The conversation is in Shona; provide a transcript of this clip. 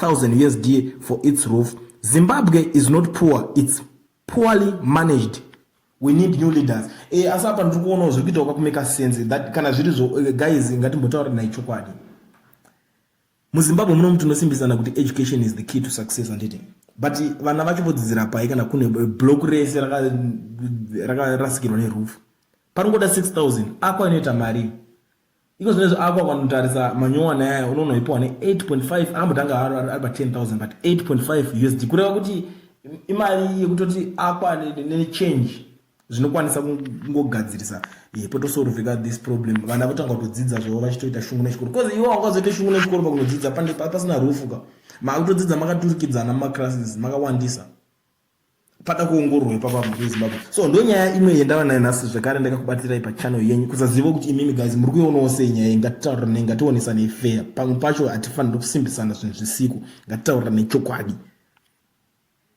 1000 usd for its roof zimbabwe is not poor its poorly managed we need new leaders e, asi apa ndiri kuonawo zviri kuitawo kakumeka sense that kana zviri zvo eh, guys ngatimbotaura nai chokwadi muzimbabwe muno muti unosimbisana kuti education is the key to success anditi but vana vacho vodzidzira pai kana kune block rese rakarasikirwa raka nerufu panongoda 6000 ako anoita mari Iko zvino izvo ako akanotarisa manyowani aya unoona uipiwa ne 8.5 ambotanga haro ari pa 10000 but 8.5 usd kureva kuti imari yekutoti akwane nechange zvinokwanisa kungogadzirisa ye potosorovheka this problem vana votanga kutodzidza zvavo vachitoita shungu nechikoro bcause iwo wangazoita shungu nechikoro pakunodzidza pasina rufu ka makutodzidza makaturikidzana mumaclasses makawandisa pada kuongororwa ipapa mhuri yezimbabwe so ndonyaya imwe yendava nayo nhasi zvekare ndakakubatira ipa channel yenyu kusaziva kuti imimi guys muri kuionawo sei nyaya iyi ngatitaurirane ngationesane fair pamwe pacho hatifaniri kusimbisana zvinhu zvisiku ngatitaurirane chokwadi